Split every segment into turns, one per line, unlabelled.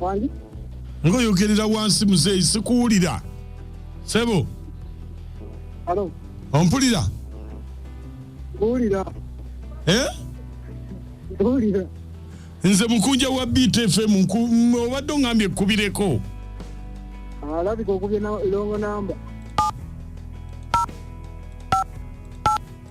Wangi? ngoyogerera wansi muzeeyi sikuwulira sebo
Halo? ompulira Kuwulira? eh? Kuwulira? nze
mukunja wa btfm nku- m- obadde ongambye ekkubireko
Alabika okubye na longo namba.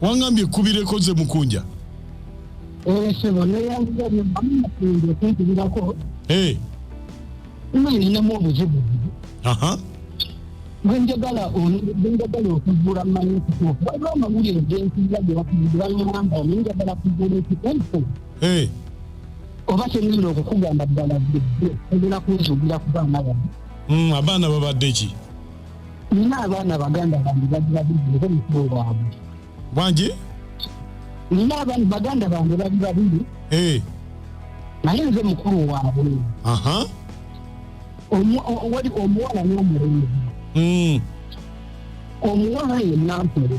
wangambye
kubireko nze mukunja
esebo neyaokunkubirako ninamu obuzibu bwenjagala bwenjagala okugula manyi kutuufu waliwo amawulire gensiza gebakugibalamba nenjagala kugula ekitempo oba kyenina okukugamba ddala bidde egera kunzugira ku baana bano abaana babadde ki
nina
abaana baganda bange bagibabireko mukulu waabwe bwangi nina abaana baganda bange bali babiri eh. naye nze mukulu waabwe wali omuwala n'omulenzi hmm. omuwala ye nampere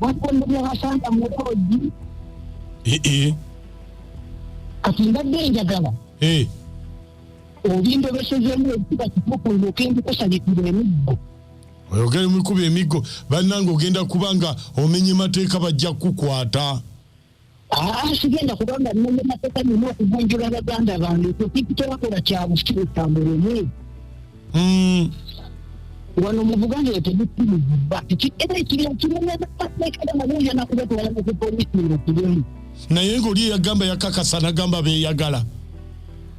bakumbubya basanga mu loogi Eh, eh, kati mbadde njagala eh. obindobesezemu ekuba kitukuluma okendikusabikira emiggo oyogere
mikuba emiggo bannange ogenda kuba nga omenye mateeka bajja kukukwata
abasigenda kubanga nnonya mateeka nina okugunjula baganda bange kukikitolakola kyabusi esambo lumu hmm. wano mu buganda eyo tegukkiriza era ekirya kirinaaateekera naboyana kubatwala mukupolisi nga kirimu naye ngaoli
eyagamba yakakasa nagamba beyagala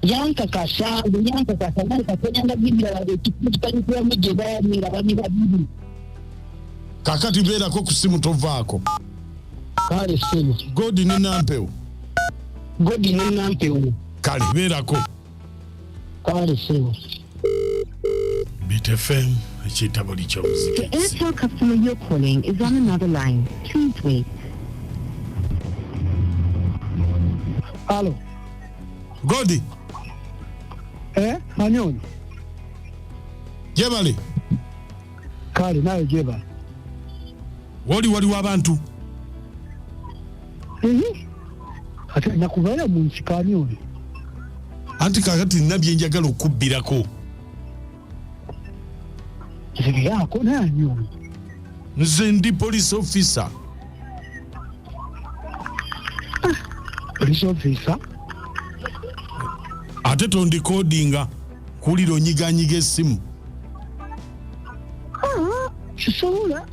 yankakasa nge yankakasa naye katonanda bibira wange ekikitalikiwamu gye baali nga bamira bibiri
kakati beerako ku simu tovaako kale
sebo godi ne nampewo
godi ne nampewo kale beerako
kale sebo bitfm
ekitabo
likyomuziki
Alo.
Godi.
Eh, Manyoni. Jebali. kale nawe jeba
woli waliwo abantu
ate nakuvayo mu nsikaani oyo anti
kakati nina byenjagala okubbirako
zibirako naani oyo nze
ndi police officer
police officer
ate tondikodinga kuwulira onyiganyiga essimu
kisobola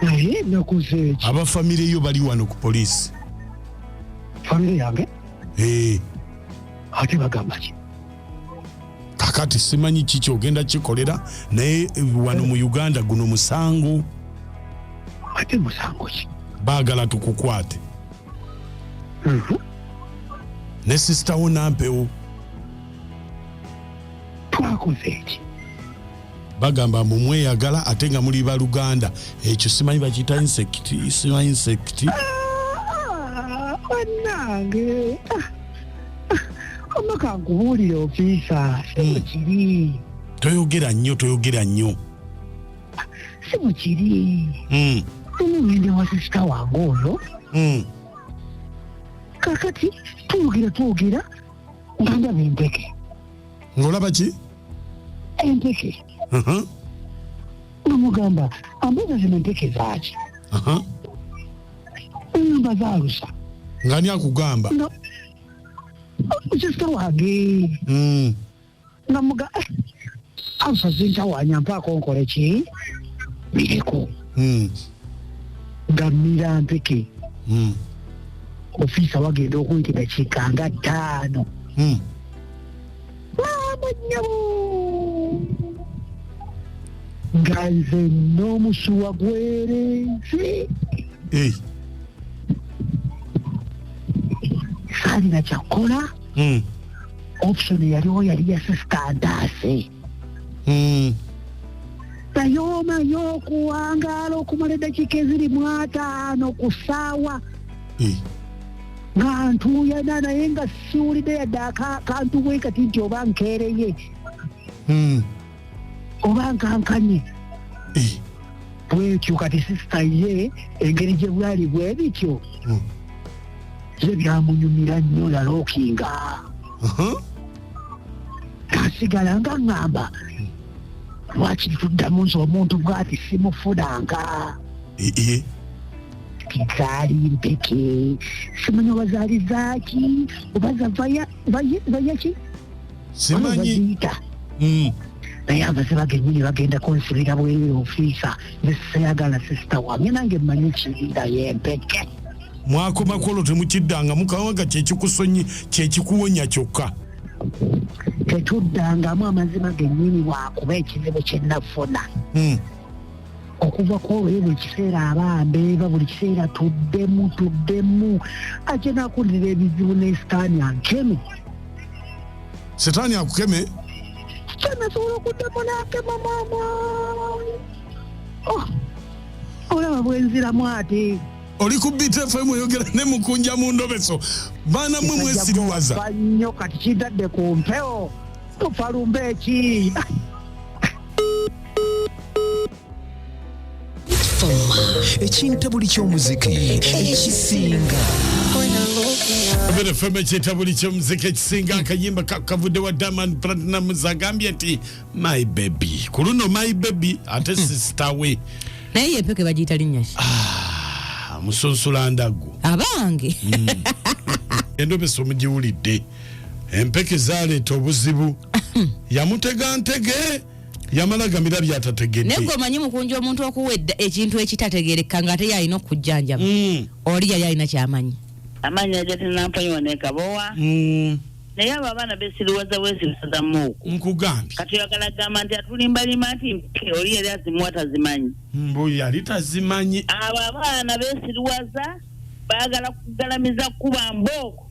naye nakozeeki aba famire yo bali wano
ku poliisi
famire yange eh. ate bagamba ki
kakati simanyi kiki ogenda kikolera naye eh, wano mu uganda guno musango
ate musango ki baagala tukukwate
mhm. ne sisita wo nampewo
twakoze eki
bagamba mbu mweyagala ate nga muli baluganda ekyo simanyi bakiyita insect simanyi insect
banange ah, ah, ah, omaka nkubuulire ofiisa simukiri hmm. toyogera nnyo
toyogera nnyo
simukiri hmm. omugende wa sisita wange ono hmm. kakati twogera twogera nga ndaba empeke
ng'olaba
ki
empeke
namugamba ambuuza zino empeke zaaki ngamba zaalusa ngani
akugamba
kisita wage hmm. nga muga eh, anfa zintawanya mpaako nkole ki bireko hmm. nga mira mpeke hmm. ofiisa wagenda okunti dakiika nga ttaano hmm. maamanyabo nga nze n'omusuwa gwerenzi eh. saalina kyakkola option eyaliwo yali ya sisita ntaase Mm. naye omanyi okuwangaala okumala eddakiika eziri mu ataano ku ssaawa Eh. nga ntuuyana naye nga siwulidde yadde aka- kantu bwe kati nti oba nkeereye Mm. oba nkankanye Eh, bwekyo kati sisita ye engeri gye bwali bwe bityo mm, ye byamunyumira nnyo yalookinga mhm. asigala nga ŋŋamba lwaki tuddamu nti omuntu bwati simufunanga Eh, eh, zaali mpeke simanya oba zaali zaaki oba zavaya vayaki
simanyi mm.
naye abaziba genyini bagenda kunsibira bweri ofiisa neseyagala sisita wamye nange manyi kirinda yempeke mwakoma
kwolwo temukiddanga mukawanga kyekikusonyi kyekikuwonya kyokka tetuddangamu
amazima genyini wakuba ekizibu kyenafuna mm. okuva ku olwo ye buli kiseera aba mbeeva buli kiseera tuddemu tuddemu ajja nakulirira ebizibu ne sitaani ankeme
sitaani akukeme kyenasobola
okuddemu nakema maama oh, olaba bwenziramu ate oli ku btfm
oyogera ne mukunja mu ndobeso baana mwe mwesiriwaza nnyo kati
kidadde ku mpewo tufalumba eki
ekinta buli ky'omuziki ekisinga
Abera FM ekyeta buli ky'omuziki ekisinga akayimba kakavudde wa Diamond Platnumz agambye nti my baby ku luno my baby ate hmm. sister we naye yepeke
bagiyita linnya ki ah, musunsula
ndagu abange
hmm.
endobesa omugiwulidde empeke zaleeta obuzibu yamutega ntege yamala gamira byatategedde naye gwe omanyi mukunja
omuntu okuwa ekintu ekitategerekka nga ate yalina okukujjanjaba mm. oli yali alina kyamanyi amaanyi
ajatinampanyiwa nekabowa mm. naye abo abaana besiriwaza wesirisazamuuku nkugambye kati oyagala
gamba nti
atulimbalima nti mpe oli yali azimuwa tazimanyi mbu yali
tazimanyi abo abaana
besiriwaza baagala kugalamiza kuba mbooko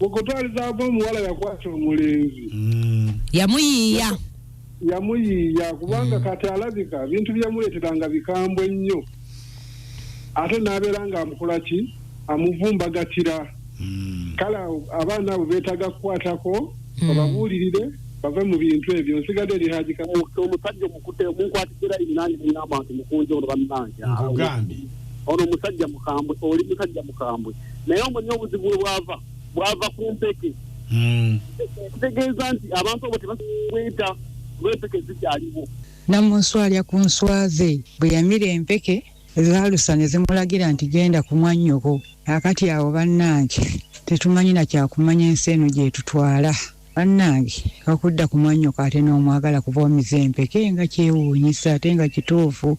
okutwalizaako omuwala yakwata omulenzi Mm. yamuyiiya yamuyiiya kubanga kati alabika bintu byemuleeteranga bikambwe nnyo ate n'abeera ng'amukola ki amuvumbagatira Mm. kale awo abaana abo beetaaga kukwatako bababuulirire bave mu bintu ebyo nsigadde eri haji kamu omusajja omukute omunkwatira inange nina abantu mukunja ono bannange Nkugambye. ono omusajja mukambwe oli musajja mukambwe naye omuli obuzibu we bwava bwava ku mpeke hmm. ekitegeeza nti abantu abo tebakweta kuba empeke zikyaliwo namunsu alya
ku nswaze bwe yamira empeke ezaalusa ne zimulagira nti genda ku mwannyoko akati awo bannange tetumanyi na kyakumanya ensi eno gyetutwala Bannange okudda ku mwannyoko ate n'omwagala kuva omize empeke nga kyewuunyisa ate nga kituufu.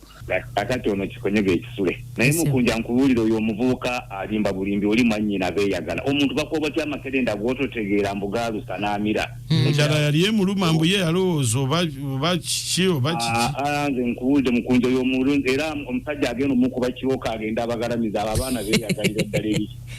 Atati ono
kikonyoga ekisule. Naye Mukunja nkubuulire oyo omuvubuka alimba bulimbi oli mwannyina beeyagala. Omuntu bakuba otya amakerenda gw'ototegeera mbu gaalusa n'amira. Hmm. Enjala yali
emuluma mbu ye yalowooza oba kiki oba ah, kiki. Ah, nze nkubuulire Mukunja
oyo omulunzi era omusajja agenda omukuba kibooko agenda abagalamiza abo abaana beeyagalira ddala ebiki.